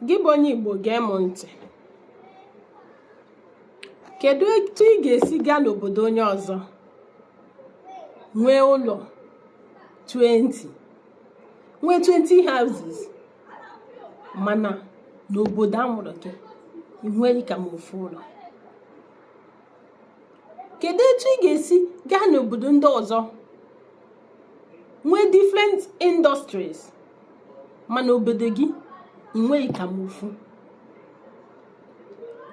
gị bụ onye Igbo gee m ntị kedu etu ị ga-esi gaa n'obodo onye ọzọ nwee ụlọ 20 nwee 20 houses mana n'obodo a mụrụ gị ị nweghị ka ma ofu ụlọ kedu etu ị ga-esi gaa n'obodo ndị ọzọ nwee different industries mana obodo gị ị nweghị ka ma ofu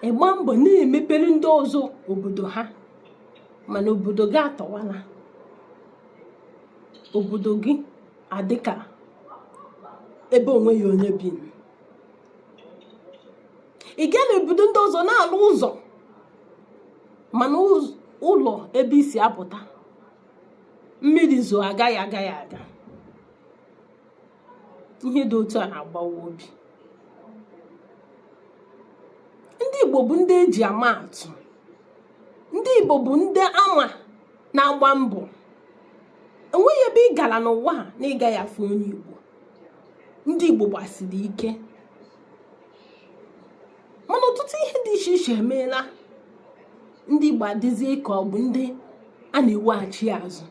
ị gba mbọ na-emepere ndị ọzọ obodo ha mana obodo gị atọwala obodo gị adịka ebe onweghị onye bi ị gaa n'obodo ndị ọzọ na-alụ ụzọ mana ụlọ ebe i si apụta mmiri zoo agaghị agaghị aga ihe dị otu a na-agbawa obi ndị Igbo bụ ndị eji ama atụ ndị Igbo bụ ndị a ma na-agba mbọ enweghị ebe ị gara n'ụwa na ị gaghị afụ onye Igbo ndị Igbo gbasiri ike mana ọtụtụ ihe dị iche iche emeela ndị Igbo adịzie ka ọ bụ ndị a na-eweghachi azụ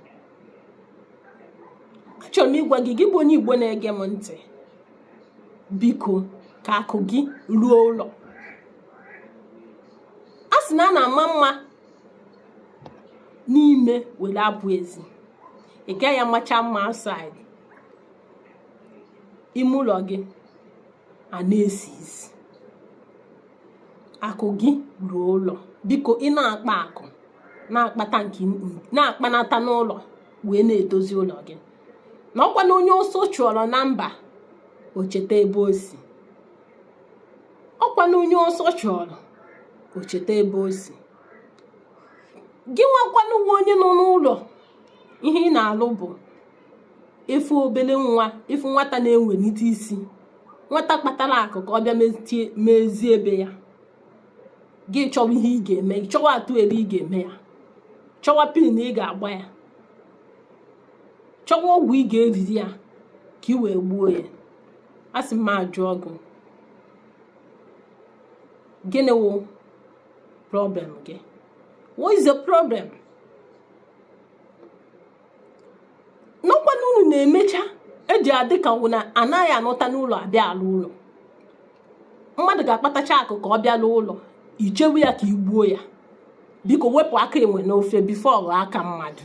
achọrọ m ịgwa gị gị bụ onye Igbo na-ege m ntị biko ka akụ gị ruo ụlọ a sị na a na-ama mma n'ime were apụ ezi ị gaghị amacha mma outside ime ụlọ gị ana-esi isi akụ gị ruo ụlọ biko ị na-akpa akụ na-akpanata n'ụlọ wee na-edozi ụlọ gị na ọkwa na onye ọsọ chụọrọ na mba o cheta ebe o si ọkwa na onye ọsọ chụọrọ o cheta ebe o si gị nwa kwanụ nwa onye nọ n'ụlọ ihe ị na-alụ bụ ị fụ obele nwa ị fụ nwata na-ewelite isi nwata kpatara akụ ka ọ bịa mezie ebe ya gị chọwa ihe ị ga-eme chọwa atụ elu ị ga-eme ya chọwa pin ị ga-agba ya chọwa ọgwụ ị ga-eriri ya ka ị wee gbuo ya a sị m ajụọ gị gịnị wụ problem gị what is the problem na ọkwa na unu na-emecha eji adị ka ọ wụ na anaghị anọta n'ụlọ abịa alụ ụlọ mmadụ ga-akpatacha akụ ka ọ bịa lụọ ụlọ i chewe ya ka i gbuo ya biko wepụ aka enwe n'ofe before ọ ghọọ aka mmadụ